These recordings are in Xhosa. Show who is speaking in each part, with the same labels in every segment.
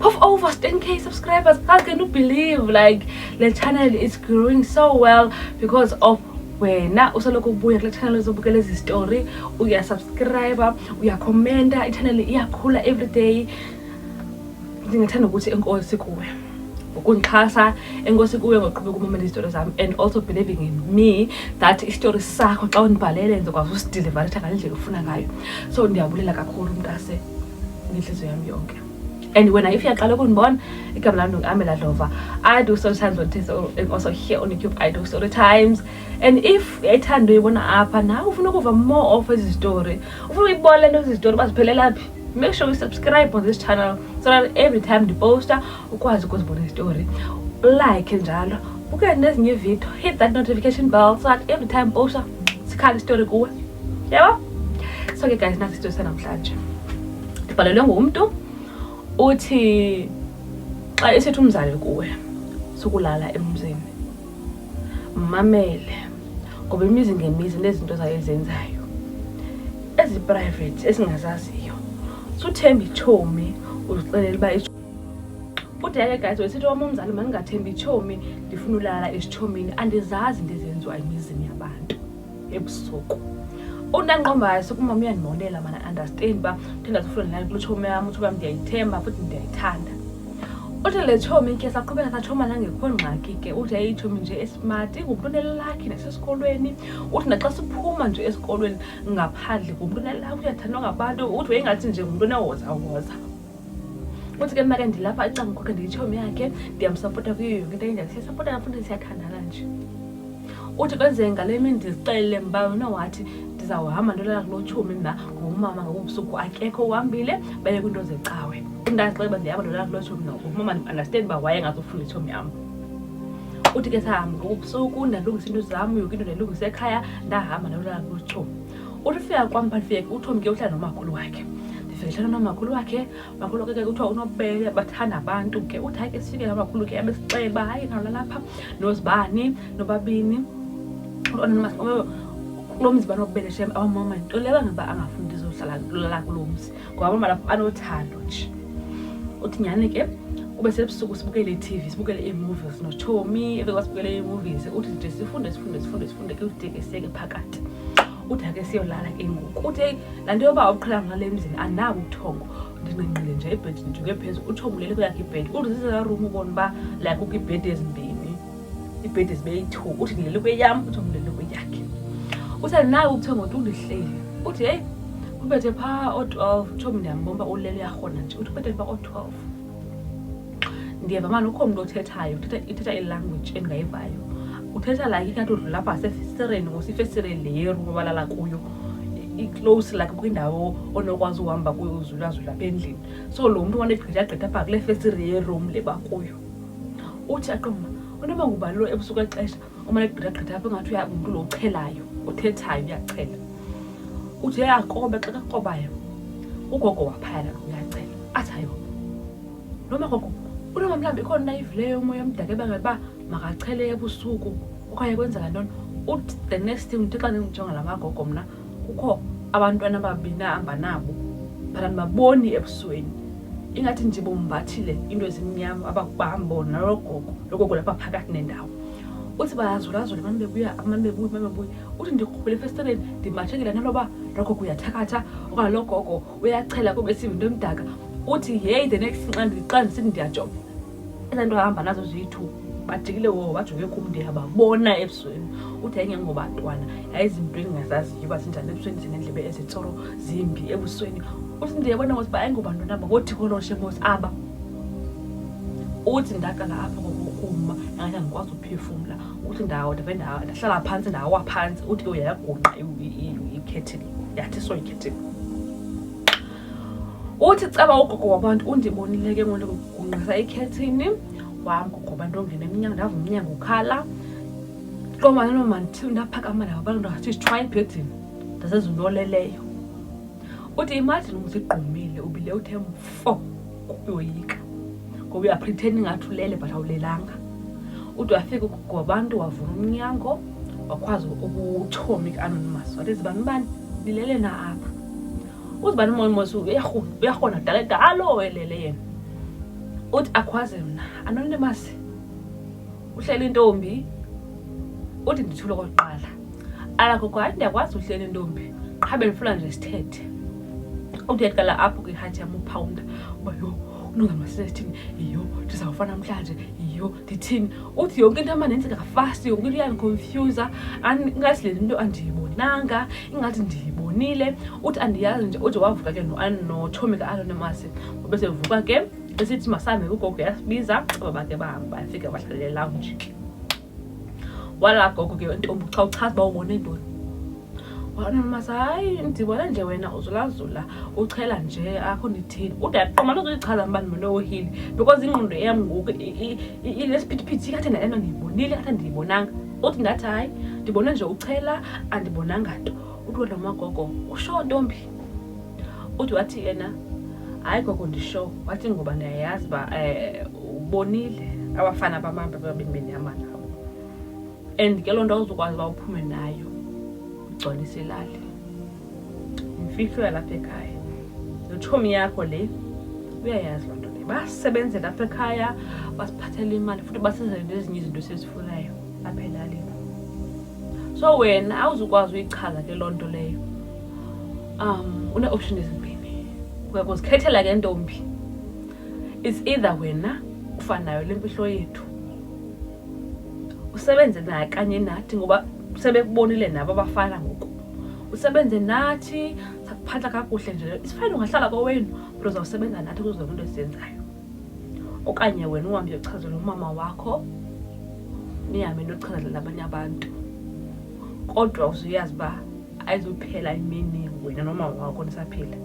Speaker 1: Puff over 10k subscribers. How can you believe like the channel is growing so well because of wena usoloko ubuya kule channel uzobukela ezi story uyasubscriba uyakhomenta ichanel iyakhula everyday ndingathanda ukuthi enkosi kuwe ukundixhasa enkosi kuwe ngoqhubeka umamela izitori zam and also believing in me that isitori sakho xa undibhalele ndizokwazi usidilivaretha ngale ndlela ufuna ngayo so ndiyabulela kakhulu umntu ase ngentliziyo yam yonke and when if uyaqala ukundibona igama lam ndingamela dlova i do story times on test and also here on youtube i do story times and if uyayithanda uyibona apha nawe ufuna ukuva more of ezi zitori ufuna uyibona le nto ezi zitori uba ziphelela phi make sure you subscribe on this channel so that every time ndiposta ukwazi ukuzibona istory ulike njalo uke nezinye ividiyo hit that notification bell so that every time posta sikhala istory kuwe yabo so ke guys nasi istory sanamhlanje ndibhalelwe ngumntu uthi xa esithi umzali kuwe sukulala emzini mmamele ngoba imizi ngemizi nezinto zayo ezenzayo eziprivate esingazaziyo suthemba itshomi uzixelela uba kude ke guys wesithi wam umzali mandingathembi itshomi ndifuna ulala esitshomini andizazi ndizenziwa emizini yabantu ebusuku unanqombayo sikumama uyandimolela mana understand uba ndingazifunde nayo kulo tshomi yam uthi uba ndiyayithemba futhi ndiyayithanda uthi le tshomi ke saqhubeka satshoma nangekho ngxaki ke uthi yayitshomi nje esmart ingumntu unelakhi nasesikolweni uthi naxa siphuma nje esikolweni ngaphandle ngumntu unelakhi uyathandwa ngabantu uthi wayingathi nje ngumntu onewozawoza uthi ke mna ke ndilapha ecanga kwakhe ndiyitshomi yakhe ndiyamsapota kuyo yonke into enjani siyasapota nafuthi siyathandana nje uthi kwenzeke ngale mini ndizixelele mba wena wathi ndizawuhamba ndolala kulo tshomi mna ngomama ngobubusuku akekho uhambile baye kwiinto zecawe ndazixeleba ndihamba ndolala kulo tshomi na umama ndiunderstand uba waye ngazofunda itshomi yam uthi ke sahamba ngobubusuku ndalungisa into zam yoke into ndayilungisa ekhaya ndahamba ndolala kulo tshomi uthi ufika kwam but fike uthomi ke uhlala nomakhulu wakhe ndifike nomakhulu wakhe makhulu ke kuthiwa unobele bathanda abantu ke uthi hayi ke sifike nomakhulu ke abesixele uba hayi nalalapha nozibani nobabini kulo mzi banobele shem awamama nto leyo angaba angafuni ndizohlala lala kulo mzi ngoba abamana banothando nje uthi nyhani ke kube sebusuku sibukele i-tv sibukele ii-movies notshomi ebe kwasibukele ii-movies uthi nje sifunde sifunde sifunde sifunde ke udekeseke phakathi uthi ake siyolala ke ngoku uthi eyi laa nto yoba uqhela ngale mzini andinabo ubuthongo ndinqinqile nje ibhedi ndijuke phezulu utshomi ulele kweyakhe ibhedi uthi zizezarum ubona uba like kukho ibhedi ezimbini ibhedi zibe yi-two uthi ndilele kweyam uthi ndilele kweyakhe uthandi naye ukuthiwa ngotu undihleli uthi heyi ubethe phaa oo-twelve tshomi ndiyambomba ulele uyarhona nje uthi ubethe phaa oo-twelve ndiyeva mani ukho mntu othethayo ithetha ilanguage endingayivayo uthetha like ingathi udlula apha sefesireni ngosifesireni le yeru babalala kuyo i-close like kwindawo onokwazi uhamba kuyo uzulazula apha endlini so lo mntu wanegqitha agqitha apha kule fesire yeroom le bakuyo uthi aqumba unoba ngubalilo ebusuku exesha umane gqithagqitha apho ingathi uyangumntu lo uchelayo uthethayo uyachela uthi yayakobe xa kakobayo ugogo waphayana uyachela athi ayo lo magogo unoba mhlawumbi ikhona nayivileyo umoya omdaka ebangela uba makachele ebusuku okanye kwenzeka ntoni uthi the next thing ndithi xa ndindijonga la magogo mna kukho abantwana ababini ahamba nabo but andibaboni ebusweni ingathi nje bombathile into ezimnyama abakubambo nalogogo logogo lapha phakathi nendawo uthi bayazulazula mane bebuya mane bebuya mane bebuya uthi ndiqhubele efestireni ndimashekele naloba logogo uyathakatha okanye logogo uyachela kube siva into emdaka uthi yeyi the next nxa ndisithi ndiyajonga ezaa nto ahamba nazo ziyi-two bajikile wo bajonge kum ndiyababona ebusweni uthi yayingengobantwana yayizinto endingazaziyo uba zinjani ebusweni zineendlebe ezitsoro zimbi ebusweni uthi ndiyabona ngothi uba ayingobantwana aba ngothi koloshe ngothi aba uthi ndaqala apha ngokukuma nangathi andikwazi uphefumla uthi ndawo ndabe ndahlala phantsi ndawa phantsi uthi ke uyayagungqa ikhethini yathi so ikhethini uthi caba ugogo wabantu undibonile ke ngoku kugungqisa ikhethini wam gogo wabantu ongena emnyango ndava umnyango ukhala komanelo mandithiwe ndaphakama nabo abantu ndingathi sithwa ebhedini ndasenza into oleleyo uthi imajini umzigqumile ubile uthe mfo kuyoyika ngoba uyapretend ingathi ulele but awulelanga ude wafika ugogo wabantu wavula umnyango wakwazi ukuthomik anonymous wathi zibani ubani lilele na apha uzibani umoya umosi uyarhona dala da alo welele yena uthi akhwaze mna anonymous uhlela intombi uthi ndithule kokuqala alakho kwa ndiyakwazi uhlela intombi qha bendifuna nje sithethe uthi yaqala apho kwihathi yam uphawunda uba yho unongamasisethini yiyo ndizawufa namhlanje yiyo ndithini uthi yonke into amane ndenzeka fast yonke into iyandiconfyuza ingathi le nto andiyibonanga ingathi ndiyibonile uthi andiyazi nje ude wavuka ke notshomi ka-anonymous ubesevuka ke esithi masambe kugogo yasibiza baba ke bahambe bayafika bahlale lounge ke wala gogo ke ntombi xa uchaza uba ubone ntoni wabona nomasa hayi ndibona nje wena uzulazula uchela nje akho ndithini ude aqoma lozoyichaza mba ndimonowohile because ingqondo eyam ngoku ilesiphithiphithi ikathe ndalento ndiyibonile kathe ndiyibonanga uthi ndathi hayi ndibone nje uchela andibonanga nto uthi wena magogo usho ntombi uthi wathi yena hayi gogo ndisho wathi ngoba ndiyayazi uba um ubonile abafana bamambe babini benyama nabo and ke loo nto awuzukwazi uba uphume nayo ugcwalise ilali imfihlo yalapha ekhaya notshomi yakho le uyayazi loo nto le basebenzele apha ekhaya basiphathele imali futhi basenzele nezinye izinto esizifunayo apha elalini so wena awuzukwazi uyichaza ke loo nto leyo um une-option ezimbini uyakuzikhethela ke ntombi it's either wena ufanayo le mfihlo yethu usebenze nakanye nathi ngoba sebekubonile nabo abafana ngoku usebenze nathi sakuphatha kakuhle nje isifayini ungahlala kowenu but uzawusebenza nathi kuzo zonke into esizenzayo okanye wena uhambe uyochazela umama wakho nihambe nochazelela abanye abantu kodwa uzuyazi uba ayizuphela imini wena nomama wakho nisaphila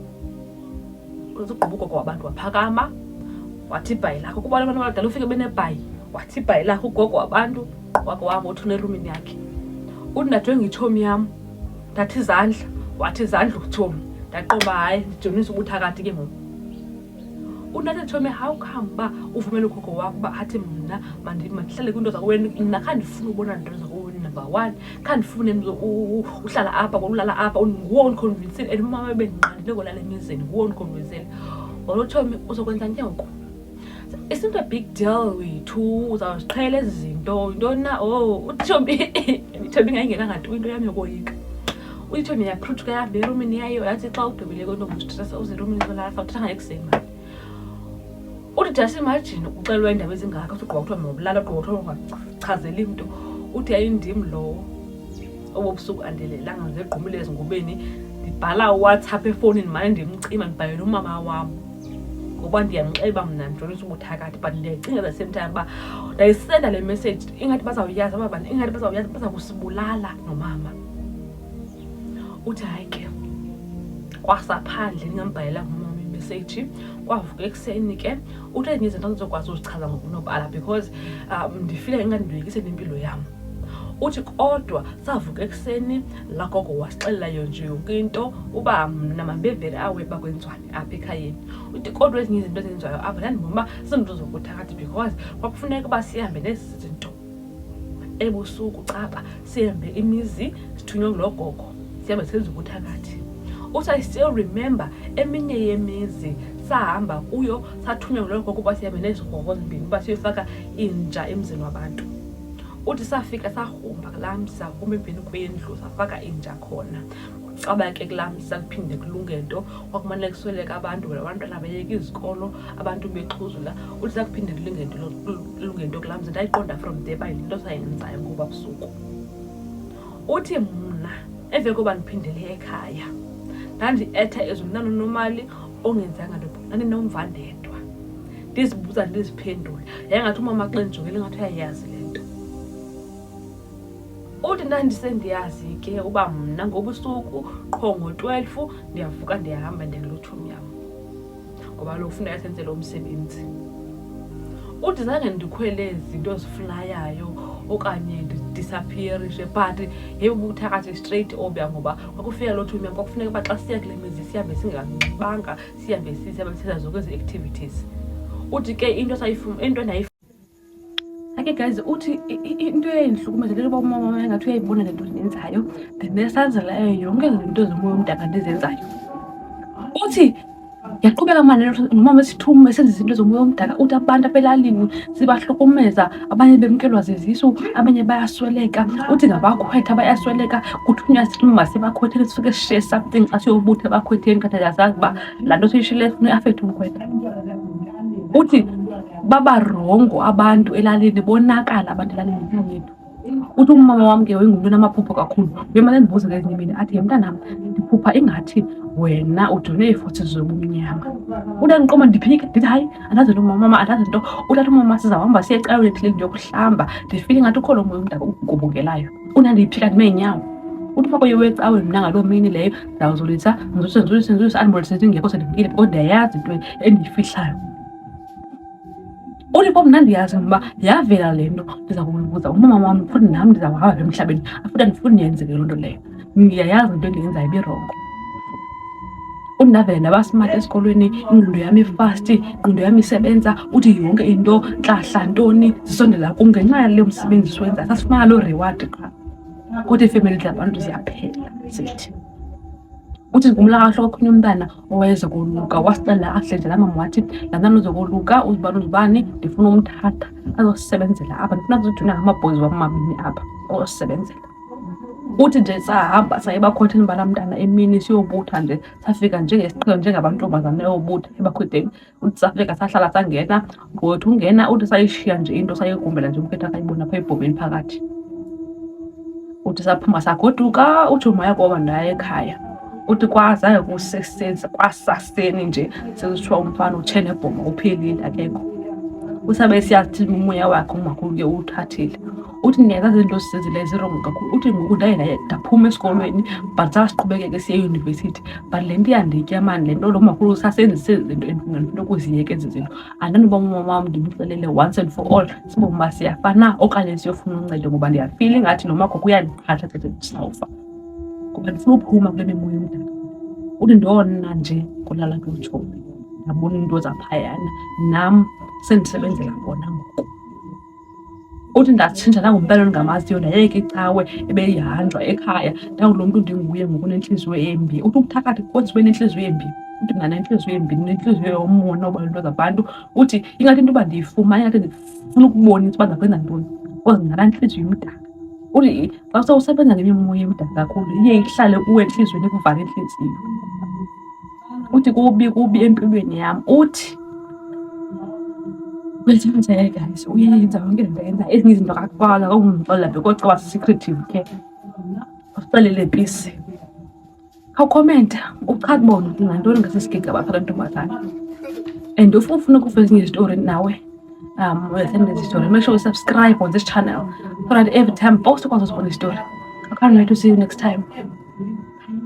Speaker 1: Uzugquba ugogo wabantu waphakama wathi ibhayi lakho kuba abantu abadala ufike benebhayi wathi ibhayi lakho ugogo wabantu wako wabo uthi unerumini yakhe uthi ndadwe ngitshomi yam ndathi izandla wathi izandla utshomi ndaqoba hayi ndijonisa ubuthakathi ke ngoku undathi nditshomi how come uba uvumele ugogo wakho uba athi mna mandihlale kwinto zakoweni nakhandifuna ubona nto zakoweni number one khandifune mntu uhlala apha kolulala apha nguwo ondikhonvinsile and umama ebendinqandile kolala emizini nguwo ondikhonvinsile walotshomi uzokwenza nje ngoku it's not a big deal wethu uzawuziqhela ezi zinto yintoni na o oh, utshomi itshomi ngayingenangathi into yam yokoyika uyitshomi yaphruthka yahamba erumini yayo yathi xa ugqibile kwentombi ustresa uze erumini zolala fawuthathanga ekuseni mani uthi just imagine uxelwa iindaba ezingaka uthi ugqiba kuthiwa mawubulala ugqiba kuthiwa ungachazeli mntu uthi yayindim lowo obobusuku andelelanga ngegqumile ezingubeni ndibhala uwhatsapp efowunini mane ndimcima ndibhalela umama wam ngoba ndiyamxeba mna ndijonisa ubuthakathi but ndiyayicinga the same time uba ndayisenda le message ingathi bazawuyazi aba bantu ingathi bazawuyazi baza kusibulala nomama uthi hayi ke kwasaphandle ndingambhalela ngumama imeseji kwavuka ekuseni ke uthi ezinye izinto ndizokwazi uzichaza ngokunobala because um ndifile ingandiloyikise nempilo yam uthi kodwa savuka ekuseni lagogo wasixelelayo nje yonke into uba mna mambevele awe uba kwenziwane apha ekhayeni uthi kodwa ezinye izinto ezenziwayo apha ndandibona uba zizinto zokuthakathi because kwakufuneka uba sihambe nezi zinto ebusuku caba sihambe imizi sithunywe ngulogogo sihambe senza ukuthakathi uthi i still remember eminye yemizi sahamba kuyo sathunywa ngulogogo ukuba sihambe nezigroko zimbini uba siyofaka inja emzini wabantu uthi safika sahumba kulaa mzi sahumba emveni kwendlu safaka inja khona caba ke kulaa msa kuphinde kulunge nto kwakumane kusweleka abantu wena abantwana beyeka izikolo abantu bexhuzula uthi zakuphinde kulunge nto kulunge nto kulaa msa ndayiqonda from there by into sayenzayo ngoba busuku uthi mna emve koba ndiphindele ekhaya ndandietha ezulu ndanonomali ongenzanga nto ndandinomva ndedwa ndizibuza ndiziphendule yayengathi umama xa ndijongele ngathi uyayazi le uthi ndandisendiyazi ke uba mna ngobusuku qho ngo-twelve ndiyavuka ndiyahamba ndiyangelotshumi yam ngoba lo kufuneka senze lo msebenzi uthi zange ndikhwele zinto ziflayayo okanye ndidisappearishe but yeyobukuthathi straight obya ngoba kwakufika loo two nyama kwakufuneka uba xa siya kule mizi sihambe singanxibanga sihambe sisihambe sisenza zonke ezi-activities uthi ke into into ake guys uthi into eyayindihlukumeza le yoba umama wam engathi uyayibona le nto ndiyenzayo ndinesazela eyo yonke le nto zomoya omdaka ndizenzayo uthi yaqhubeka mane nomama esithume esenza izinto zomoya omdaka uthi abantu abelalini zibahlukumeza abanye bemkelwa zizisu abanye bayasweleka uthi ngabakhwetha bayasweleka kuthunywa silima sebakhwetheni sifike sishiye something xa siyobutha ebakhwetheni kanti ayazazi uba laa nto siyishile funa iafekthe umkhwetha uthi babarongo abantu elalini bonakala abantu elalini ngenxa yethu uthi umama wam ke wayengumntu onamaphupho kakhulu uyemane ndibuze ngezinye imini athi yemntanam ndiphupha ingathi wena ujone iifotsi zobumnyama utandiqoma ndiphike ndithi hayi andazi nto mama andazi nto utata umama sizahamba siye ecaweni ethileni ndiyokuhlamba ndifile ingathi ukho lo moya umdaka ugubungelayo unandiyiphika ndime nyawo uthi uba koye wecawe mna ngaloo mini leyo ndawuzulisa ndizulise ndizulise ndizulise andibonise ndingekho sendimkile kodwa ndiyayazi into endiyifihlayo ulipo mnandi yazamba yavela le nto ndiza kubuza umama wam futhi nam ndiza kuhamba emhlabeni afuthi andifuni ndiyenzeke loo nto leyo ndiyayazi into endiyenzayo ibirongo undavela nabasimati esikolweni ingqondo yami ifasti ingqondo yami isebenza uthi yonke into ntlahla ntoni zisondela kum ngenxa yale msebenzi siwenza sasifumana loo reward qha kodwa iifemeli zabantu ziyaphela zithi uthi ngumlakahloko okhunye umntana owayezokoluka wasixelela kakuhle nje lamama wathi lanani uzokoluka uzibani uzibani ndifuna umthatha azosisebenzela apha ndifuna azojuna ngamabhozi wam mabini apha ozosisebenzela uthi nje sahamba saye bakhotheni bala mntana emini siyobutha nje safika njengesiqhelo njengabantombazana eyobutha ebakhwedeni uthi safika sahlala sangena ngothi ungena uthi sayishiya nje into sayigumbela nje umphetha akayibona phaa ebhomeni phakathi uthi saphuma sagoduka uthi umaya kwaba ndaye ekhaya uthi kwazayo kusesenza kwasaseni nje sezithiwa umfana utshe nebhoma uphelile akekho usabe siyathi umoya wakhe umakhulu ke uwuthathile uthi ndingenza zinto sisezileyo zirongo kakhulu uthi ngoku ndaye ndaye ndaphuma esikolweni but sasiqhubekeke siye eyunivesithi but le nto iyanditya mani le nto lo makhulu sasenzise zinto endifuna ukuziyeka ezi zinto andindiba umama wam ndimxelele once and for all sibom uba siyafa na okanye siyofuna uncedo ngoba ndiyafila ingathi nomagogo uyandiqhatha thethe ndisawufa ngoba ndifuna uphuma kule mimoya omdala uthi ndona nje kolala kutshomi ndabona iinto zaphayana nam sendisebenzela bona ngoku uthi ndatshintsha nangumpela ndingamaziyo ndayeke icawe ebeyihanjwa ekhaya ndawulo mntu ndinguye ngokunentliziyo embi uthi ukuthakathi kodwa ube nentliziyo embi uthi mna nentliziyo embi nentliziyo yomona uba into zabantu uthi ingathi into yoba ndiyifumane ingathi ndifuna ukubonisa uba ndakwenza ntoni because ndinganantliziyo imdaka uthi xa sewusebenza ngemimoya emdaka kakhulu iye ihlale kuwe entliziyweni ikuvale intliziyo uthi kubi kubi empilweni yam uthi uyathathele guys uyenza yonke lento yenza ezinye izinto kakuqala kakumxolela be kodwa waba secretive ke usixelele pisi khawukhomenta uchathi bona uthi ngantoni ngasesigega baphela ntombazana and if ufuna ukuva ezinye izitori nawe um uyasenda izitori make sure usubscribe on this channel so that every time post ukwazi uzibona izitori i can't wait to see you next time